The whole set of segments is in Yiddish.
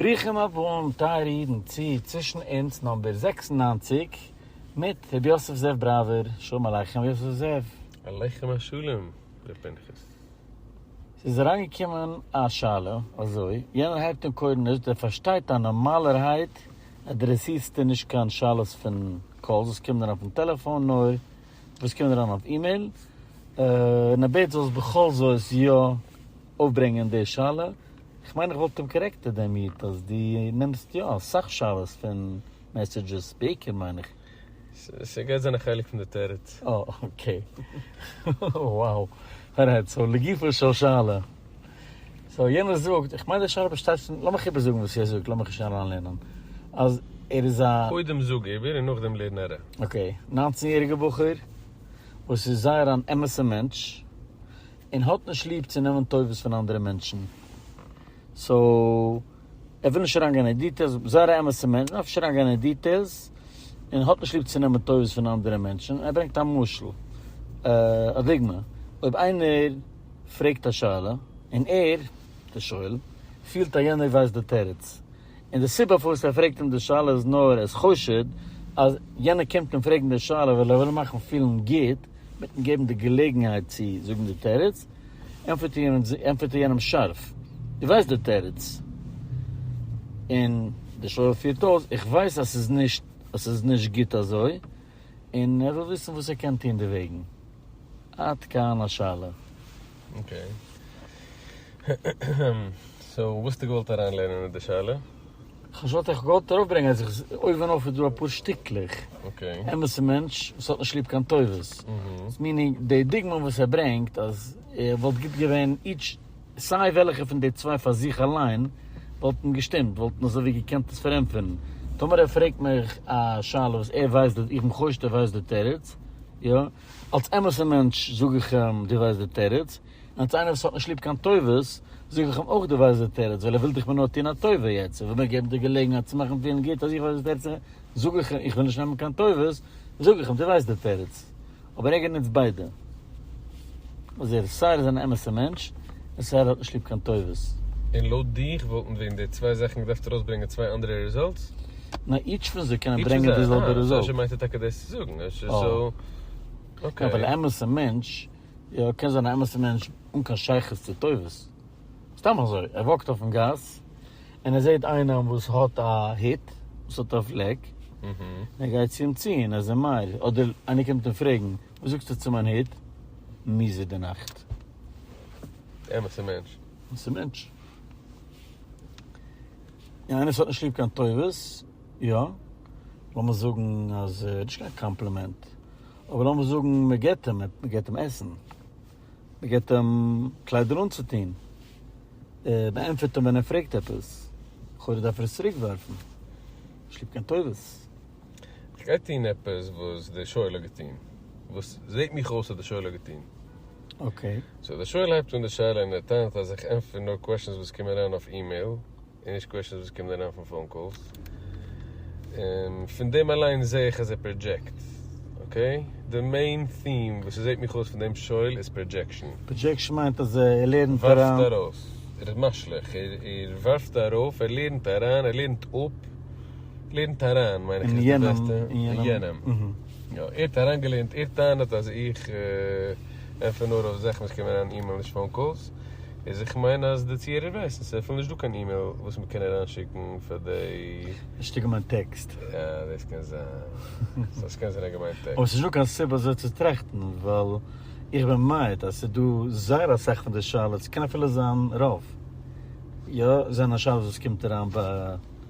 ברוכים הבאים טייערע אידן צו צווישן אונז נאמבער זעקס און נײַנציק מיט רבי יוסף זאב בראווער, שלום עליכם יוסף זאב. עליכם השלום ר' פנחס. ס'איז אריינגעקומען א שאלה אזוי, יענער הייבט אן קורנעש, דער פארשטייט אז נארמאלערהייט אדרעסירסטו נישט קיין שאלות פון קאלס וואס קומען אריין אויפן טעלעפאן נאר וואס קומען אריין אויף אימעיל, און ער בעט זאלסט בכל זאת יא. אויפברענגען די שאלה, איך מיין איך וואלט אים קארעקטעד דעם איד אז דו נעמסט יא אסאך שאלות פון מעסעדזשעס, בעיקר מיין איך. ס'גייט זיין א חלק פון די תירוץ. אה אקעי. וואו. ארייט, סאו לגופו של שאלה. סאו יענער זאגט, איך מיין די שאלה באשטייט פון, לאמיך איבער זאגן וואס ער זאגט, לאמיך נישט אריינלערנען, אז ער איז א. קודם זאג איבער און נאכדעם לערן אריין. אקעי, ניינצן יעריגע בחור וואס איז זייער אן אמת'ע מענטש, און האט נישט ליב צו נעמען טובות פון אנדערע מענטשן, סאו ער וויל נישט אריינגיין אין דיטעילס, זייער א אמת'ע מענטש, וויל נישט אריינגיין אין דיטעילס, און האט נישט ליב צו נעמען טובות פון אנדערע מענטשן, ער ברענגט א משל, א דוגמא, אויב איינער פרעגט א שאלה, און ער, דער שואל, פילט אז יענער ווייסט די תירוץ. און די סיבה פארוואס ער פרעגט אים די שאלה איז נאר עס חשוד אז יענער קומט אים פרעגן די שאלה ווייל ער וויל אים מאכן פילן גוט מיטן געבן די געלעגנהייט צו זאגן די תירוץ, ענטפערט ער ענטפערט ער יענעם שארף דו ווייסט די תירוץ? און דער שואל פירט אויס איך ווייס אז ס'איז נישט אז ס'איז נישט גוט אזוי און ער וויל וויסן וואס ער קען טון דערוועגן. עד כאן השאלה. אקעי. המממ. סאו וואסטו געוואלט אריין לערנען איז די שאלה? כ'האב שוין געוואלט איך געוואלט ארויף ברענגען אז איך אויבן אויף איז דא אפאר שטיקלעך אקעי. אמת'ע מענטש וואס האט נישט ליב קיין טובות. איז מיענינג די דוגמא וואס ער ברענגט אז וואלט גוט געווען איטש סיי וועלכע פון די צוויי פאר זיך אליין וואלט אים געשטימט וואלטן אזוי ווי געקענט עס פארענטפערן. טאמער ער פרעגט מיך א שאלה וואס ער ווייסט די איך בין חושד ער ווייסט די תירוץ. יא. אלס אמת'ער מענטש זאג איך אים דו ווייסט די תירוץ, און אלס איינער וואס האט נישט ליב קיין טובות זאג איך אים אויך דו ווייסט די תירוץ, ווייל ער וויל דיך מיר נאר טוהן א טובה יעצט, ער וויל מיר געבן די געלעגנהייט צו מאכן פילן גוט אז איך ווייס די תירוץ און זאג איך איך וויל נישט נעמען קיין טובות זאג איך אים דו ווייסט די תירוץ, אבער עגר נוצט ביידע אז ער סיי ער איז אן אמת'ער מענטש און סיי ער האט נישט ליב קיין טובות. און לויט דיך וואלטן ווען די צוויי זאכן געדארפט ארויסברענגען צוויי אנדערע רעזאלטס? נאר איטש פון זיי קענען ברענגען די זעלבע רעזאלט. אהה, מיינט ער טאקע דאס צו זאגן, אקעי. ווייל א אמת'ע מענטש, יא, קען זיין א אמת'ע מענטש אן קיין שייכות צו טובות. סתם אזוי, ער וואקט אויפן גאס, און ער זעט איינעם וואס האט א הוט, וואס האט א פלעק, און ער גייט צו אים צו און ער איז מעיר, אדער איינער קומט אים פרעגן, וואס זאגסטו צו מיין הוט? מיזער די נאכט. אמת'ע מענטש. אמת'ע מענטש. און איינער וואס האט נישט ליב קיין טובות, יא, לאמיר זאגן אז נישט קיין קאמפלימענט, אבער לאמיר זאגן מען געבט אים, מען געבט אים עסן, מען געבט אים קליידער אנצוטון, מען ענטפערט אים ווען ער פרעגט עפעס, לכאורה דארף ער עס צוריק ווארפן, נישט ליב קיין טובות. איך גיי טון עפעס וואס דער שואל האט געטון, וואס זעט מיך אויס אז דער שואל האט געטון. אקעי. סאו דער שואל הייבט אן די שאלה און ער טענה'ט אז איך ענטפער נאר קוועשאנס וואס קומען אריין אויף אימעיל און נישט קוועשאנס וואס קומען אריין פון פאון קאלס און פון דעם אליין זעה איך אז ער פראדזשעקט. אקעי. די מעין טים וואס ס'זעהט מיך אויס פון דעם שואל איז פראדזשעקשאן. פראדזשעקשאן מיינט אז ער לערנט אריין. ווארפט ארויס. ער איז משליך. ער ווארפט ארויף, ער לערנט אריין, ער לערנט אפ, לערנט אריין מיין איך איז די בעסטע. אין יענעם. יא, ער האט אריינגעלערנט, ער טענה'ט אז איך ענפער נאר אויף זאכן וואס קומען אריין אימעיל נישט פאון קאלס, איז איך מיין אז די צוהערער ווייסן ס'איז אפילו נישט דא קיין אימעיל וואס מ'קען אריינשיקן פאר די. א שטיקל מיין טעקסט. אה, דאס קען זיין. סא ס'קען זיין ער האט געמיינט טעקסט. אבער ס'איז נישטא קיין סיבה אזוי צו טראכטן, ווייל איך בין מעיד אז ס'איז דא זייער אסאך פון די שאלות, ס'קען אפילו זיין רוב, יא, זענען שאלות וואס קומט אריין ביי.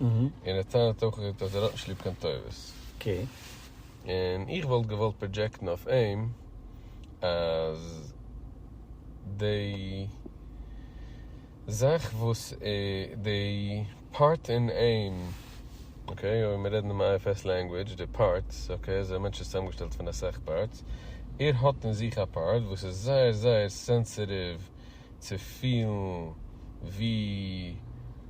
און ער טענה'ט אויך אז ער האט נישט ליב קיין טובות. און איך וואלט געוואלט פראדזשעקטן אויף אים אז די זאך וואס די פארט אין אים, אקעי, אויב מיר רעדן דעם IFS לענגווידזש, די פארטס, אקעי, אזוי א מענטש איז צוזאמגעשטעלט פון אסאך פארטס, ער האט אין זיך א פארט וואס איז זייער זייער סענסעטיוו, צו פילן ווי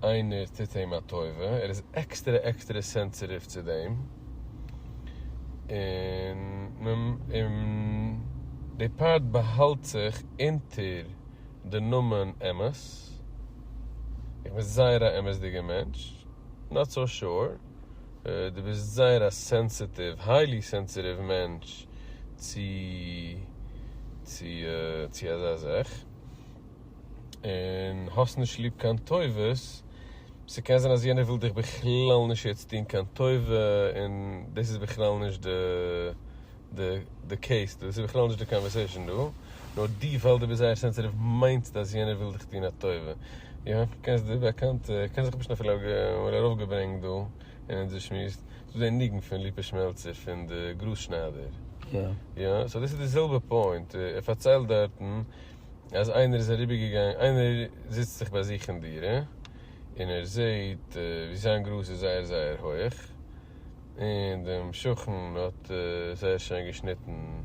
איינער טוט אים א טובה, ער איז עקסטערע עקסטערע סענסעטיוו צו דעם, און די פארט באהאלט זיך אונטער די נאמען אמת, איך בין זייער א אמת'דיגע מענטש, נאט סאו שור. דו ביסט זייער א סענסעטיוו, היילי סענסעטיוו מענטש צו צו אזא זאך, און האסט נישט ליב קיין טובות, ס'קען זיין אז יענער וויל דיך בכלל נישט יעצט טון קיין טובה, און דאס איז בכלל נישט די. די קעיס דא, ס'איז בכלל נישט די קאנווערסעישאן דא, נאר דו ווייל דו ביסט זייער סענסעטיוו מיינסטו אז יענער וויל דיך טון א טובה, יא, קענסט די באקאנטע, איך קען זיך נישט אפילו אמאל ארויפגעברענגט דא אין אונזער שמועס, ס'איז דא די ניגון פון ליפא שמעלצער פון די גראז שניידער, יא, סאו דאס איז די זעלבע פוינט, ער פארציילט דארטן אז איינער איז אריבערגעגאנגען, איינער זיצט זיך ביי זיך אין דירה און ער זעהט ווי זיין גראז איז זייער זייער הויעך, און דעם שכן האט זייער שיין געשניטן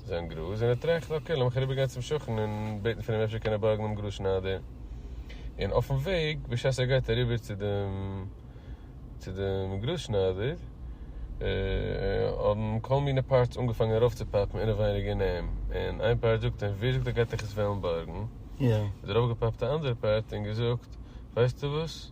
זיין גראז, און ער טראכט אקעי לאמיך אריבער גיין צום שכן און בעטן פון אים אפשר קען ער בארגן דעם גראז שניידער, און אויפן וועג בשעת ער גייט אריבער צו דעם צו דעם גראז שניידער האבן כל מיני פארטס אנגעפאנגען ארויף צו פאפן אינעווייניג אין אים, און איין פארט זאגט אים ווער זאגט ער גייט דיך עס וועלן בארגן, איז ארויף געפאפט א אנדערע פארט און געזאגט ווייסטו וואס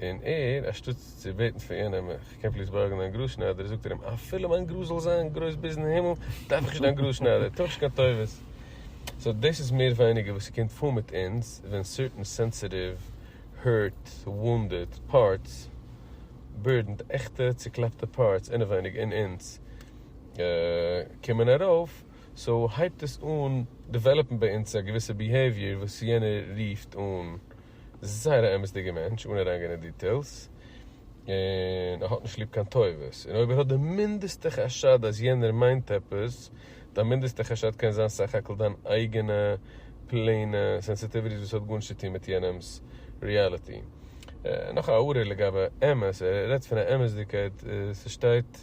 און ער, אַשטאָט צו בעטן פֿון יענעם, איך קען פֿליס באַרגן דײַן גראָזשנײַדער, זאָגט ער אים, אַפֿילו מײַן גראָזש זאָל זײַן גרױס ביזן הימל, דאַרף איך נישט דײַן גראָזשנײַדער, טו איך נישט קײן טובֿות. סאָ דאָס איז מער װײניקער װאָס ס'קומט פֿאָר מיט אונדז, װען סערטען סענסיטיװ, הערט, װאָונדעד, פּאַרטס, בורדענד, עכטע צעקלאַפּטע פּאַרטס אינעװײניק אין אונדז קומען אַרױף, סאָ הײבט עס אָן דעװעלאָפּן בײַ אונדז אַ געװיסע ביהעיװיער װאָס יענער רופֿט אָן. זייער א אמת'דיגע מענטש אן אריינגיין אין דיטעילס, און ער האט נישט ליב קיין טובות, און אויב ער האט די מינדעסטע חשד אז יענער מיינט עפעס, דיין מינדעסטע חשד קען זיין סך הכל דיין אייגענע פלעינע סענסיטיוויטיס וואס האט גארנישט צו טון מיט יענעמ'ס ריאליטי. נאך א הערה לגבי אמת, ער רעדט פון א אמת'דיגקייט, ס'שטייט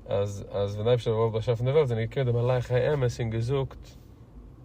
אז אז ווען די אייבערשטער האט געוואלט באשאפן די וועלט זענען געקומען די מלאכי האמת און געזאגט,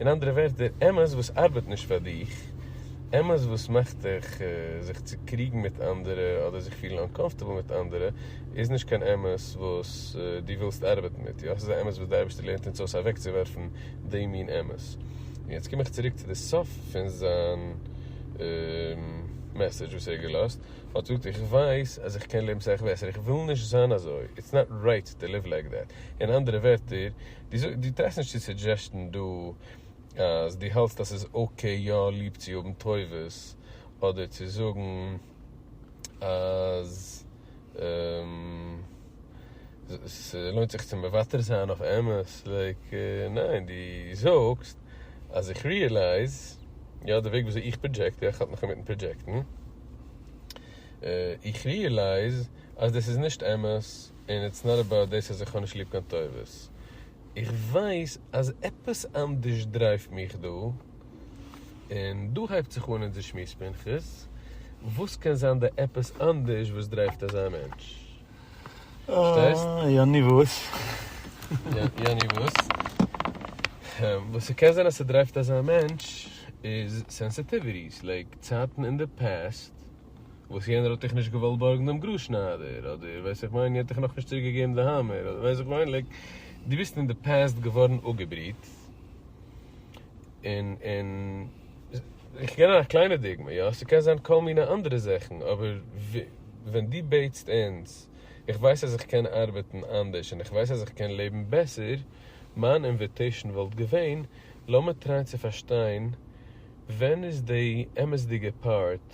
אין אנדערע ווערטער, אמת וואס ארבעט נישט פאר דיך, אמת וואס מאכט דיך זיך צוקריגן מיט אנדערע אדער זיך פילן אנקאמפארטעבל מיט אנדערע, איז נישט קיין אמת וואס דו ווילסט ארבעטן מיט איר, אויך איז א אמת וואס דער אייבערשטער לערנט אונז אויס אוועקצואווארפן די מין אמת. און יעצט קום איך צוריק צו די סוף פון זיין מעסעדזש וואס ער האט געלאזט, ער האט געזאגט, איך ווייס אז איך קען לעבן סאך בעסער, איך וויל נישט זיין אזוי, איטס נאט רייט טו ליוו לייק דעט, אין אנדערע ווערטער, דו טרייסט נישט צו סודזשעסטן דא אז דו האלסט אז ס'איז אקעי יא ליב צו האבן טובות, אדער צו זאגן אז ס'לוינט זיך צו מוותר זיין אויף אמת, לייק, ניין, דו זאגסט אז איך ריעלייז, יא, די וועג וויאזוי איך פראדזשעקט, יא, איך האלט נאך אינמיטן פראדזשעקטן, איך ריעלייז אז דאס איז נישט אמת, און איטס נאט אבאוט דאס אז איך האב נישט ליב קיין טובות, איך ווייס אז עפעס אנדערש דרייווט מיך דא, און דא הייבט זיך אן אונזער שמועס פנחס, וואס קען זיין די עפעס אנדערש וואס דרייווט אזא מענטש? פארשטייסט? יעני וואס? יעני וואס? וואס ס'קען זיין אז ס'דרייווט אזא מענטש איז סענסעטיוויטיס, לייק צייטן אין די פעסט, וואס יענער האט דיך נישט געוואלט בארגן דעם גראז שניידער אדער ווייס איך מיין יענט דיך נאך נישט צוריק געגעבן די האמער אדער ווייס איך מיין לייק די ביסט אין די פעסט געווארן אפגעבריט און און איך געב א קליינע דוגמא יא ס'קען זיין כל מיני אנדערע זאכן אבער ווען די בעטסט אונז איך ווייס אז איך קען ארבעטן אנדערש און איך ווייס אז איך קען לעבן בעסער מיין אינוויטעישן וואלט געווען לאמיר טרייען צו פארשטיין ווען איז די אמת'דיגע פארט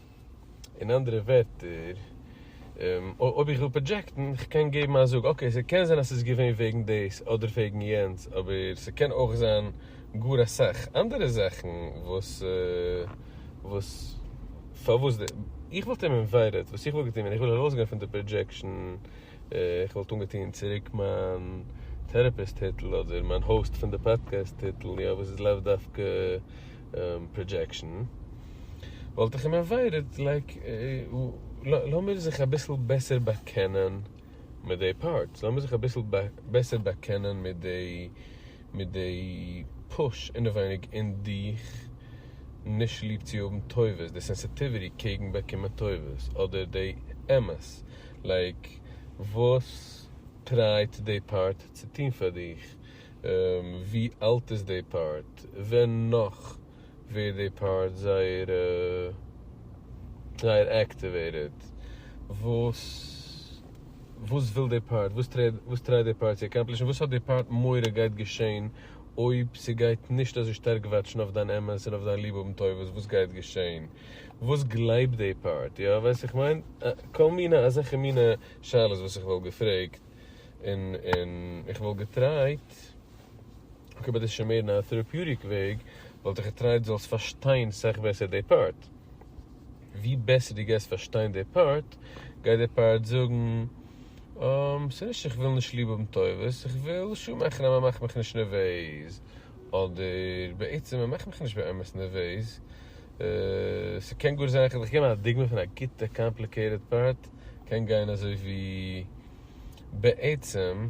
אין אנדערע ווערטער, אויב איך וויל פראדזשעקטן, איך קען געבן א זאג, אקעי, ס'קען זיין אז ס'איז געווען וועגן דאס אדער וועגן יענץ, אבער ס'קען אויך זיין גאר אסאך אנדערע זאכן וואס פארוואס די. איך וואלט אים אינווייטעד, וואס איך וואלט געטון ווען איך וויל ארויסגיין פון די פראדזשעקשאן, איך וואלט אנגעטון צוריק מיין טערעפיסט היטל אדער מיין האוסט פון די פאדקעסט היטל, יא, וואס איז לאו דווקא פראדזשעקשאן. וואלט איך אים עוואוידעד, לייק, לאמיר זיך אביסל בעסער באקענען מיט די פארטס, לאמיר זיך אביסל בעסער באקענען מיט די, מיט די פוש אינעווייניג אין דיך, נישט ליב צו האבן טובות, די סענסיטיוויטי קעגן באקומען טובות, אדער די אמת, לייק, וואס טרייט די פארט צו טון פאר דיך, ווי אלט איז די פארט, ווען נאך ווי די פארט זייער זייער עקטיוועטעד וואס וואס וויל די פארט וואס טרייט וואס טרייט די פארט צו עקאמפלישן וואס האט די פארט מורא גייט געשעהן אויב ס'גייט נישט אזוי שטארק וואטשן אויף דיין אמת און אויף דיין ליב האבן טובות וואס גייט געשעהן וואס גלייבט די פארט יא ווייסט איך מיין כל מיני אזעלכע מינע שאלות וואס איך וואלט געפרעגט און און איך וואלט געטרייט אקעי אבער דאס איז שוין מער אין א טעראפיוטיק וועג, וואלט איך געטרייט דו זאלסט פארשטיין סך בעסער די פארט. ווי בעסער דו גייסט פארשטיין די פארט, גייט די פארט זאגן, אםם, ס'איז נישט איך וויל נישט ליב האבן טובות, איך וויל שא מאכן אז מען מאכט מיך נישט נערוועז, אדער, בעצם מען מאכט מיך נישט באמת נערוועז. ס'קען גאר זיין, כ'וועל דיך געבן א דוגמא פון א גוטע קאמפליקעיטעד פארט, קען גיין אזוי ווי, בעצם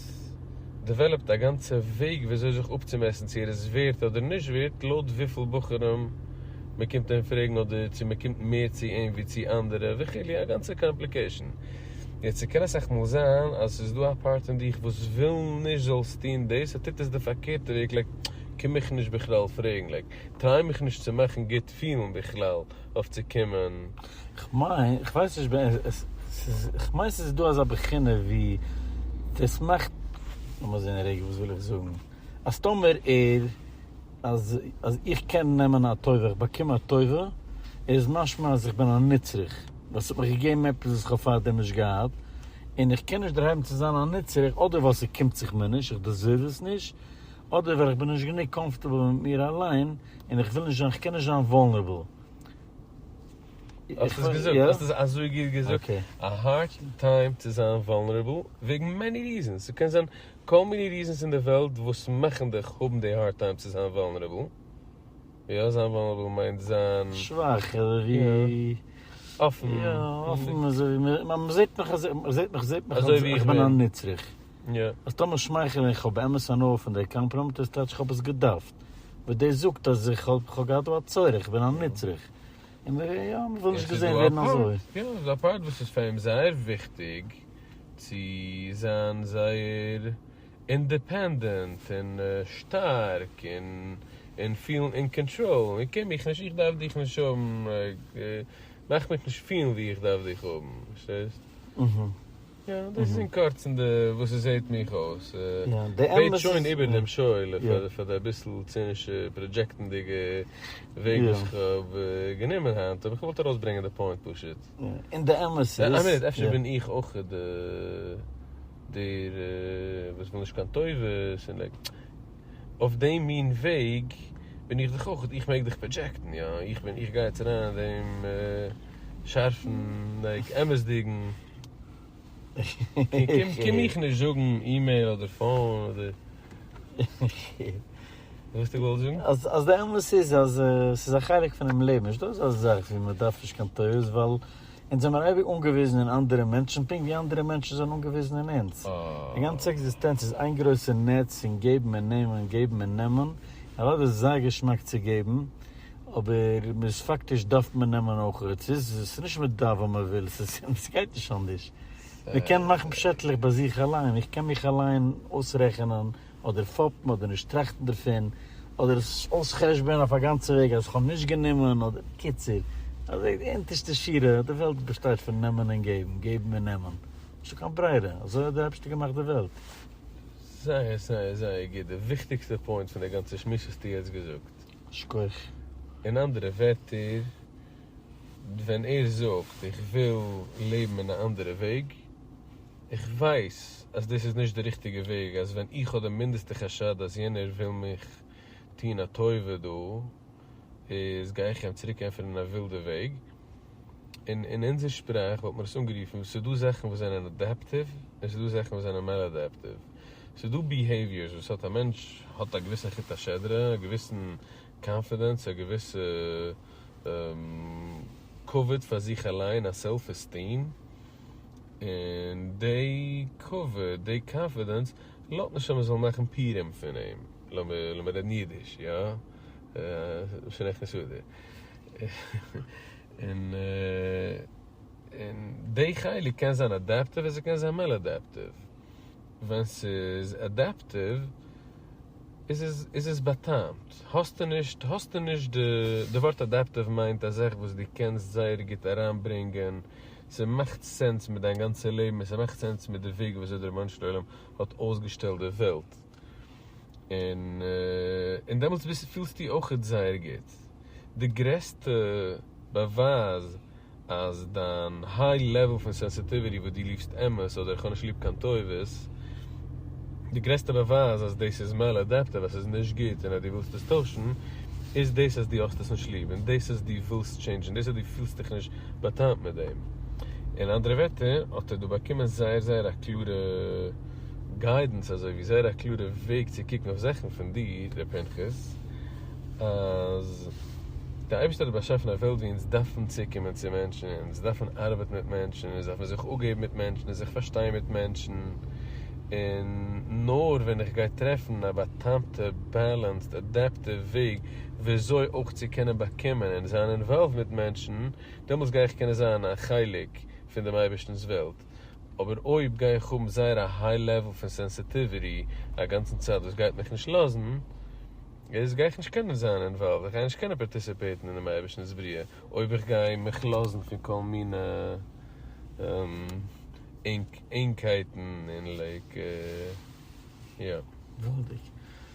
האט דעוועלאפט א גאנצע וועג וויאזוי זיך אפצומעסן צו ער איז ווערד אדער נישט ווערד לויט וויפיל בחורים מ'קומט אים פרעגן אדער צו מ'קומט מער צו אים ווי צו אנדערע וכו' א גאנצע קאמפליקעישן. יעצט ס'קען אסאך מאל זיין אז ס'איז דא א פארט אין דיך וואס וויל נישט זאלסט טון דאס, ער טוט עס די פארקערטע וועג לייק קום מיך נישט בכלל פרעגן לייק טריי מיך נישט צו מאכן גוט פילן בכלל אויף צו קומען. כ'מיין, כ'ווייס נישט ווען עס איז, כ'מיין ס'איז דא אזא בחינה ווי דאס מאכט, לאמיר זעהן רגע וואס וויל איך זאגן, אז טאמער ער, אז איך קען נעמען א טובה, איך באקום א טובה, איז משמע אז איך בין א נצרך, ווייל ס'האט מיך געגעבן עפעס וואס כ'האב פארדעם נישט געהאט, און איך קען נישט דערהייבן צו זיין א נצרך, אדער ווייל ס'קומט זיך מיר נישט, איך דעזערוו עס נישט, אדער ווייל איך בין נישט גענוג קאמפארטעבל מיט מיר אליין און איך וויל נישט זיין, כ'קען נישט זיין וואלנערבל. האסט עס געזאגט, האסט עס אזוי גוט געזאגט, א הארד טיים צו זיין וואלנערבל וועגן מעני ריזענס, ס'קען זיין כל מיני ריזענס אין די וועלט וואס מאכן דיך האבן די הארד טיים צו זיין וואלנערבל, יא זיין וואלנערבל מיינט זיין שוואך אדער ווי אפען, יא אפען אזוי ווי מ'זעט מיך, מ'זעט מיך, זעט מיך אז איך בין א נצרך. יא, אז טאמער שמייכעל און כ'האב באמת הנאה פון דער קאמפראמט איז טייטש כ'האב עס געדארפט, וואס דאס זאגט אז איך האב כ'האב געהאט דא א צורך, איך בין א נצרך, און מיר יא, מיר ווילן נישט געזען ווערן אזוי. יא, ס'איז דא א פארט וואס איז פאר אים זייער וויכטיג צו זיין זייער אינדעפענדענט און שטארק און און פילן אין קאנטראל, און איך קען מיך נישט, איך דארף דיך נישט האבן, מאך מיך נישט פילן ווי איך דארף דיך האבן, פארשטייסט? אהה. יא, דאס איז אין קורצן די וואס עס זעהט מיך אויס. בעט שוין איבער דעם שואל פאר די אביסל צינישע פראדזשעקטנדיגע וועג וואס איך האב גענומען היינט, אבער איך וואלט ארויסברענגען די פוינט פשוט. און די אמת איז. איין מינוט, אפשר בין איך אויך דער וואס וויל נישט קיין טובות און לייק. אויף דעם מין וועג בין איך דאך אויך, איך מעג דאך פראדזשעקטן, יא, איך בין, איך גיי יעצט אריין אין דעם שארפן, לייק, אמת'דיגן, קום מיך נישט זאגן אימעיל אדער פאון אדער וואס דו ווילסט זאגן. אז די אמת איז אז ס'איז א חלק פונעם לעבן, נישטא אזא זאך ווי מ'דארף נישט קיין תירוץ, ווייל אונז זעמער אייביג אנגעוויזן אין אנדערע מענטשן פונקט ווי אנדערע מענטשן זענען אנגעוויזן אין אונז. די גאנצע עקזיסטענץ איז איין גרויסע נעץ פון געבן און נעמען געבן און נעמען, אוודאי איז עס זייער געשמאק צו געבן, אבער מען איז פאקטיש דארף מען נעמען אויכעט, ס'איז ס'איז נישט מען דארף ווען מען וויל, ס'איז און ס'גייט נישט אנדערש, מען קען מאכן פשעטלעך ביי זיך אליין, איך קען מיך אליין אויסרעכענען אדער פאפן אדער נישט טראכטן דערפון, אדער עס אויס'חשבונ'ען אויף א גאנצע וועג אז כ'האב נישט גענומען, אדער בקיצור, אזוי די אונטערשטע שורה, די וועלט באשטייט פון נעמען און געבן, געבן און נעמען, נישטא קיין ברירה, אזוי האט די אייבשטער געמאכט די וועלט. זייער זייער זייער גוט, די וויכטיגסטע פוינט פון די גאנצע שמועס האסטו יעצט געזאגט. שכח. אין אנדערע ווערטער, ווען ער זאגט איך וויל לעבן אין א אנדערע וועג, איך ווייס אז דאס איז נישט די ריכטיגע וועג, אז ווען איך האב די מינדעסטע חשד אז יענער וויל מיך טוהן א טובה דא, איז גיי איך איהם צוריק ענטפערן אין א ווילדע וועג, און אין אונזער שפראך וואלט מען עס אנגערופן, ס'איז דא זאכן וואס זענען אדעפטיוו, און ס'איז דא זאכן וואס זענען מאלאדעפטיוו. ס'איז דא ביהעיוויערס וואס האט א מענטש האט א געוויסן חוט השדרה, א געוויסן קאנפידענס, א געוויסע כבוד פאר זיך אליין, א סעלף עסטיעם, און דעי כבוד, דעי קאנפידענס, לאט נישט אז מען זאל מאכן פירים פון אים, לאמיר רעדן אידיש, יא? שוין עכט נישט אדער. און דעי חלק קען זיין אדעפטיוו און ס'קען זיין מאלאדעפטיוו. ווען ס'איז אדעפטיוו איז עס באטאמט, האסטו נישט, האסטו נישט, די ווארט אדעפטיוו מיינט א זאך וואס דו קענסט זייער גוט אריינברענגען ס'מאכט סענס מיט דיין גאנצע לעבן און ס'מאכט סענס מיט די וועג ווי אזוי דער רבונו של עולם האט אויסגעשטעלט די וועלט, און דעמאלטס פילסטו אויכעט זייער גוט. די גרעסטע באווייז אז דיין היי לעוועל פון סענסיטיוויטי וואס דו ליבסט אמת אדער איך האב נישט ליב קיין טובות, די גרעסטע באווייז אז דאס איז מעל אדעפטיוו אז ס'איז נישט גוט און אז דו ווילסט עס טוישן, איז דאס אז דו האסט עס נישט ליב און דאס אז דו ווילסט טשעינדזשן, דאס אז דו פילסט דיך נישט באטאנט מיט דעם. אין אנדערע ווערטער האט ער דא באקומען זייער זייער א קלארע גיידענס אזוי ווי זייער א קלארע וועג צו קוקן אויף זאכן פון דיר ר' פנחס אז די אייבערשטער האט באשאפן א וועלט ווי אונז דארפן צוקומען צו מענטשן און אונז דארפן ארבעטן מיט מענטשן און אונז דארפן זיך אפגעבן מיט מענטשן און זיך פארשטיין מיט מענטשן און נאר ווען איך גיי טרעפן א באטאנטע בעלענסד אדעפטיוו וועג וויאזוי אויך צו קענען באקומען און זיין אינוואלווד מיט מענטשן, דעמאלטס גיי איך קענען זיין א חלק פון דעם אייבערשטנ'ס וועלט, אבער אויב גיי איך האבן זייער א היי לעוול פון סענסיטיוויטי א גאנצן צייט וואס גייט מיך נישט לאזן, איז גיי איך נישט קענען זיין אינוואלווד, איך גיי נישט קענען פארטיסיפעיטן אין דעם אייבערשטנ'ס בריאה, אויב איך גיי מיך לאזן פון כל מיני ענגקייטן און לייק יא. וואלדיג.